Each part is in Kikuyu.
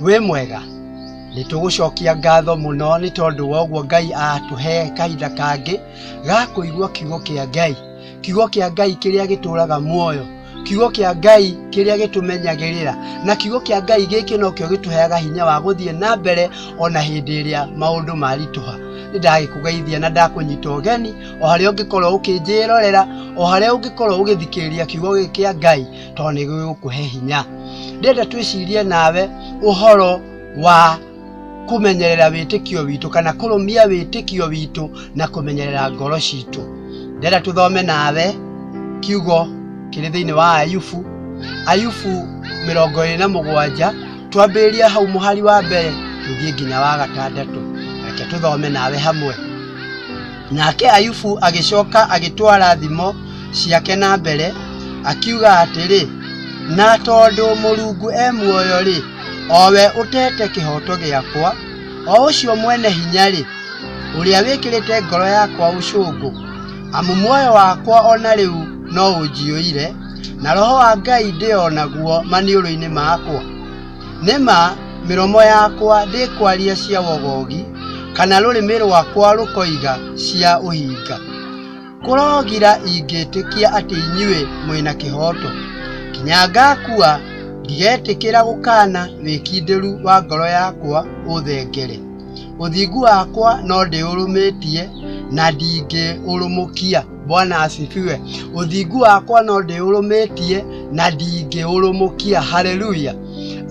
wĩ mwega nĩ tũgũcokia ngatho mũno nĩ tondũ wa ũguo ngai atũhe kahinda kangĩ ga kũigua kiugo kĩa ngai kiugo kĩa ngai kĩrĩa gĩtũraga muoyo kiugo kĩa ngai kĩrĩa gĩtũmenyagĩrĩra na kiugo kĩa ngai gĩkĩ nokĩo gĩtũheaga hinya wa gũthiĩ na mbere ona hĩndĩ ĩrĩa maũndũ maritũha nĩ ndagĩkũgeithia na ndakũnyita ũgeni o harĩa ũngĩkorwo ũkĩnjĩrorera o harĩa ũngĩkorwo ũgĩthikĩrĩria kiugo gĩkĩ kĩa ngai tondũ nĩ gĩgũkũhe hinya ndĩrenda twĩcirie nawe ũhoro wa kũmenyerera wĩtĩkio witũ kana kũrũmia wĩtĩkio witũ na kũmenyerera ngoro citũ ndĩrenda tũthome nawe kiugo kĩrĩ thĩinĩ wa ayubu ayubu mĩrongo ĩrĩ na mũgwanja twambĩrĩria hau mũhari wa mbere tũthiĩ nginya wa gatandatũ reke tũthome nawe hamwe Nake Ayubu agĩcoka agĩtwara thimo ciake na mbere, akiuga atĩrĩ, na tondũ Mũrungu e muoyo-rĩ, o we ũtete kĩhooto gĩakwa, o ũcio mwene hinya-rĩ, ũrĩa wĩkĩrĩte ngoro yakwa ũcũngũ, amu muoyo wakwa o na rĩu no ũnjiyũire, na roho wa Ngai ndĩ o naguo maniũrũ-inĩ makwa. Nĩ ma, mĩromo yakwa ndĩkwaria cia wogogi, kana rũrĩmĩ rwakwa rũkoiga cia ũhinga. Kũrogira ingĩtĩkia atĩ inyuĩ mwĩ na kĩhooto. Kinya ngakua, ndigetĩkĩra gũkaana wĩkindĩru wa ngoro yakwa ũthengere. Ũthingu wakwa no ndĩũrũmĩtie, na ndingĩũrũmũkia. Bwana asifiwe. Uthingu wakwa no ndĩũrũmĩtie na ndingĩũrũmũkia. Haleluya.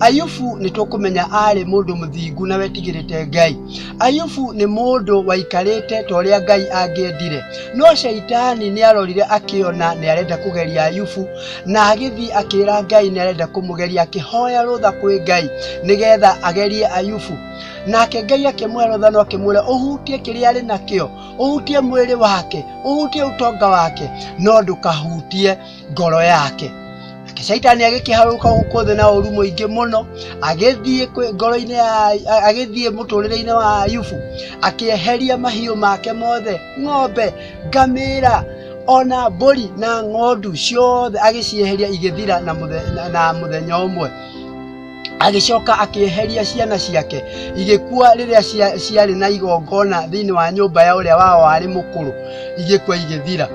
Ayubu nĩ tũkũmenya arĩ mũndũ mũthingu na wetigĩrĩte Ngai. Ayubu nĩ mũndũ waikarĩte ta ũrĩa Ngai angĩendire, no Shaitani nĩ arorire akĩona nĩ arenda kũgeria Ayubu na agĩthiĩ akĩra Ngai nĩ arenda kũmũgeria, akĩhoya rũtha kwĩ Ngai nĩgetha agerie Ayubu. Nake Ngai akĩmũhe rũtha no akĩmwĩra ũhutie kĩrĩa arĩ nakĩo ũhutie mwĩrĩ wake ũhutie ũtonga wake no ndũkahutie ngoro yake Nake shaitani agĩkĩharũka gũkũ thĩ na ũru mũingĩ mũno agĩthiĩ kwĩ- ngoro-inĩ ya a- agĩthiĩ mũtũrĩre-inĩ wa ayubu akĩeheria mahiũ make mothe ng'ombe ngamĩra ona mbũri na ng'ondu ciothe agĩcieheria igĩthira na mũthe- na- na mũthenya ũmwe agĩcoka akĩeheria ciana ciake igĩkua rĩrĩa cia- ciarĩ na igongona thĩinĩ wa nyũmba ya ũrĩa wao warĩ mũkũrũ igĩkua igĩthira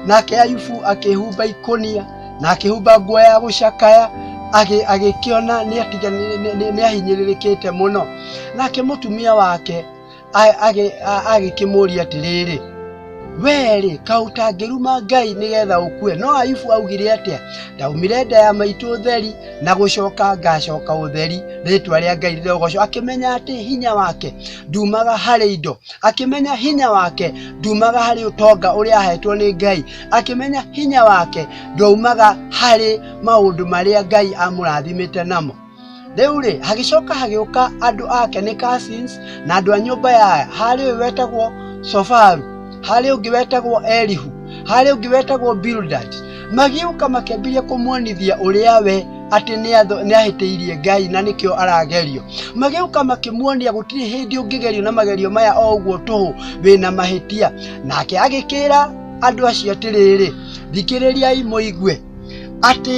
nake ayubu akĩhumba ikũnia na akĩhumba nguo ya gũcakaya agĩ- agĩkĩona nĩatiga- nĩ- nĩ- nĩ- nĩahinyĩrĩrĩkĩte mũno nake mũtumia wake agĩkĩmũũria atĩrĩrĩ werĩ kaũ tangĩruma ngai nĩgetha ũkue no ayubu augire atĩa ndaumire nda ya maitũ ũtheri na gũcoka ngacoka ũtheri rĩtwa rĩa ngai rĩrogocwo akĩmenya atĩ hinya wake ndumaga harĩ indo akĩmenya hinya wake ndumaga harĩ ũtonga ũrĩa ahetwo nĩ ngai akĩmenya hinya wake ndwaumaga harĩ maũndũ marĩa ngai amũrathimĩte namo rĩu-rĩ hagĩcoka hagĩũka andũ ake nĩ cousins na andũ a nyũmba ya harĩ ũyũ wetagwo sofaru harĩ ũngĩ wetagwo elihu harĩ ũngĩ wetagwo bildad magĩũka makĩambĩrĩria kũmuonithia ũrĩa we atĩ nĩ ahĩtĩirie ngai na nĩkĩo aragerio magĩũka makĩmuonia gũtirĩ hĩndĩ ũngĩgerio na magerio maya o ũguo tũhũ wĩna mahĩtia nake agĩkĩra andũ acio atĩrĩrĩ thikĩrĩriai mũigue atĩ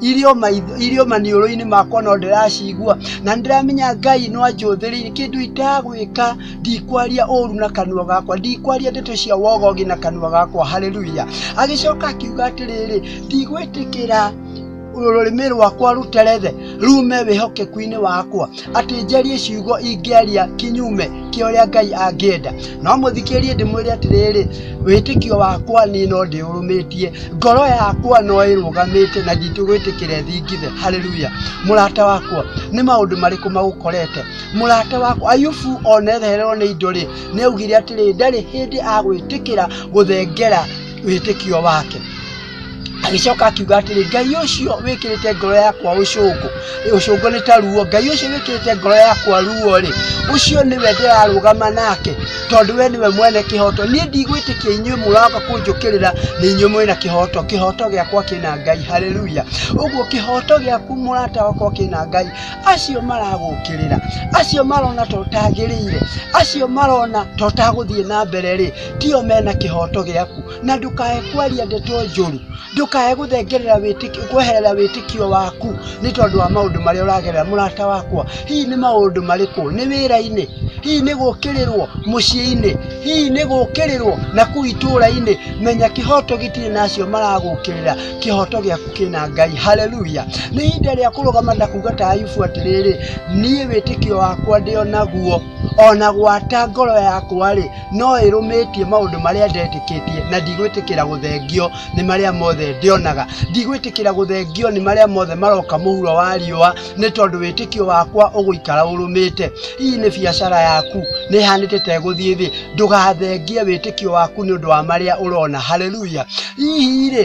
irio maitho irio maniũrũ-inĩ makwa no ndĩracigua na ndĩramenya ngai no anjũthĩrĩire kĩndũ itagwĩka ndikwaria ũru na kanua gakwa ndikwaria ndeto cia wogogi na kanua gakwa haleluya agĩcoka akiuga atĩrĩrĩ ndigwĩtĩkĩra rũrĩmĩ rwakwa rũterethe rume wĩhokeku-inĩ wakwa atĩ njarie ciugo ingĩaria kinyume kĩa ũrĩa Ngai angĩenda. No mũthikĩrĩrie ndĩmwĩre atĩrĩrĩ, wĩtĩkio wakwa niĩ no ndĩũrũmĩtie, ngoro yakwa no ĩrũgamĩte na nditũgwĩtĩkĩra ĩthingithe. Haleluya! Mũrata wakwa, nĩ maũndũ marĩkũ magũkorete? Mũrata wakwa Ayubu onetherewo nĩ indo rĩ, nĩ augire atĩrĩ, ndarĩ hĩndĩ agwĩtĩkĩra gũthengera wĩtĩkio wake. agĩcoka akiuga atĩrĩ ngai ũcio wĩkĩrĩte ngoro yakwa ũcũngũ ũcũngũ nĩ ta ruo ngai ũcio wĩkĩrĩte ngoro yakwa ruo rĩ ũcio nĩwe ndĩrarũgama nake tondũ we nĩwe mwene kĩhoto niĩ ndigwĩtĩkia inyuĩ mũroka kũnjũkĩrĩra nĩ inyuĩ mwĩna kĩhoto kĩhoto gĩakwa kĩna ngai haleluya ũguo kĩhoto gĩaku mũrata wakwa kĩna ngai acio maragũkĩrĩra acio marona ta ũtagĩrĩire acio marona ta ũtagũthiĩ na mbere rĩ tio mena kĩhoto gĩaku na ndũkae kwaria ndeto njũru ndũkae gũthengerera wĩtĩkio kweherera wĩtĩkio waku nĩ tondũ wa maũndũ marĩa ũragerera mũrata wakwa hihi nĩ maũndũ marĩkũ nĩ wĩra-inĩ hihi nĩ gũkĩrĩrwo mũciĩ-inĩ hihi nĩ gũkĩrĩrwo na kuu itũũra-inĩ menya kĩhoto gĩtirĩ na acio maragũkĩrĩra kĩhoto gĩaku kĩna ngai haleluya nĩ ihinda rĩa kũrũgama na kuga ta ayubu atĩrĩrĩ niĩ wĩtĩkio wakwa ndĩ o naguo ona gwata ngoro yakwa-rĩ no ĩrũmĩtie maũndũ marĩa ndetĩkĩtie na ndigwĩtĩkĩra gũthengio nĩ marĩa mothe ndĩonaga ndigwĩtĩkĩra gũthengio nĩ marĩa mothe maroka mũhuro wa riũa nĩ tondũ wĩtĩkio wakwa ũgũikara ũrũmĩte hihi nĩ biacara yaku nĩ hanĩte tegũthiĩ thĩ ndũgathengie wĩtĩkio waku nĩ ũndũ wa marĩa ũrona haleluya hihi rĩ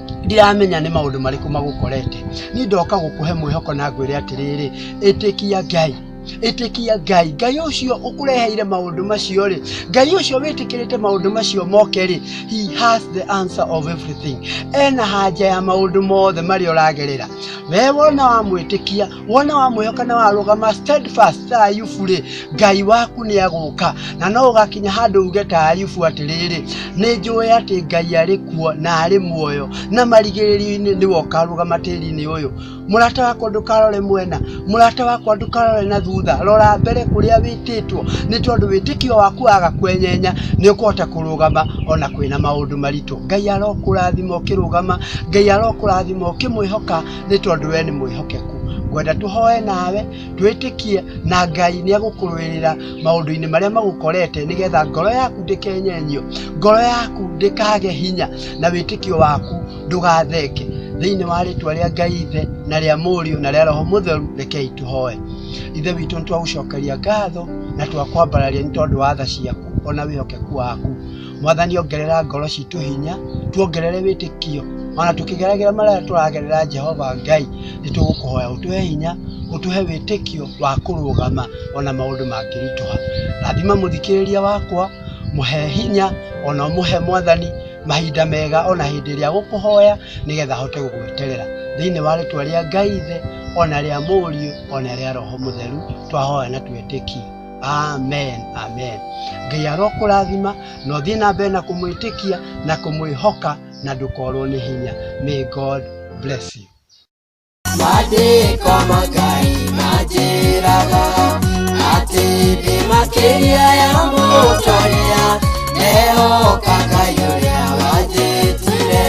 ndiramenya nĩ maũndũ marĩkũ magũkorete niĩ ndoka gũkũhe mwĩhoko na ngwĩre atĩrĩrĩ ĩtĩkia ngai ĩtĩkia ngai ngai ũcio ũkũreheire maũndũ macio rĩ ngai ũcio wĩtĩkĩrĩte maũndũ macio moke rĩ he has the answer of everything ena hanja ya maũndũ mothe marĩa ũragerera we wona wamwĩtĩkia wona wa muoyo kana warugama steadfast ta ayubu rĩ ngai waku nĩ agũka na no ũgakinya handũ uge ta ayubu atĩrĩrĩ nĩ njũĩ atĩ ngai arĩ kuo na arĩ muoyo na marigĩrĩrio-inĩ nĩ wokarũgama tĩri-inĩ ũyũ mũrata wakwa ndũkarore mwena mũrata wakwa ndũkarore na thutha rora mbere kũrĩa wĩtĩtwo nĩ tondũ wĩtĩkio waku waga kwenyenya nĩ ũkũhota kũrũgama ona kwĩna maũndũ maritũ ngai arokũrathima ũkĩrũgama ngai arokũrathima ũkĩmwĩhoka nĩ tondũ we nĩ mwĩhokeku ngwenda tũhoe nawe twĩtĩkie na ngai nĩ agũkũrũĩrĩra maũndũ-inĩ marĩa magũkorete nĩgetha ngoro yaku ndĩkenyenyio ngoro yaku ndĩkage hinya na wĩtĩkio waku ndũgatheke thĩinĩ wa rĩtwa rĩa ngai ithe na rĩa mũriũ na rĩa roho mũtheru rekei tũhoe ithe witũ nĩ twagũcokeria ngatho na twakwambararia nĩ tondũ wa tha ciaku ona wĩhokeku waku mwathani ongerera ngoro citũ hinya tuongerere wĩtĩkio ona tũkĩgeragĩra marĩa tũragerera jehova ngai nĩ tũgũkũhoya ũtũhe hinya ũtũhe wĩtĩkio wa kũrũgama ona maũndũ mangĩritũha rathima mũthikĩrĩria wakwa mũhe hinya ona ũmũhe mwathani mahinda mega ona hĩndĩ ĩrĩa gũkũhoya nĩgetha ahote gũgweterera thĩinĩ wa rĩtwa rĩa ngai ithe ona rĩa mũriũ ona rĩa roho mũtheru twahoya na twĩtĩkia amen amen ngai arokũrathima na ũthiĩ na mbere na kũmwĩtĩkia na kũmwĩhoka na ndũkorwo nĩ hinya may god bless you Maandĩko ma Ngai manjĩraga atĩ ndĩ makĩria ya mũtongoria, mehoka Ngai ũrĩa wanjĩtire,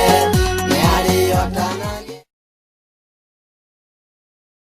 nĩ arĩotanagia.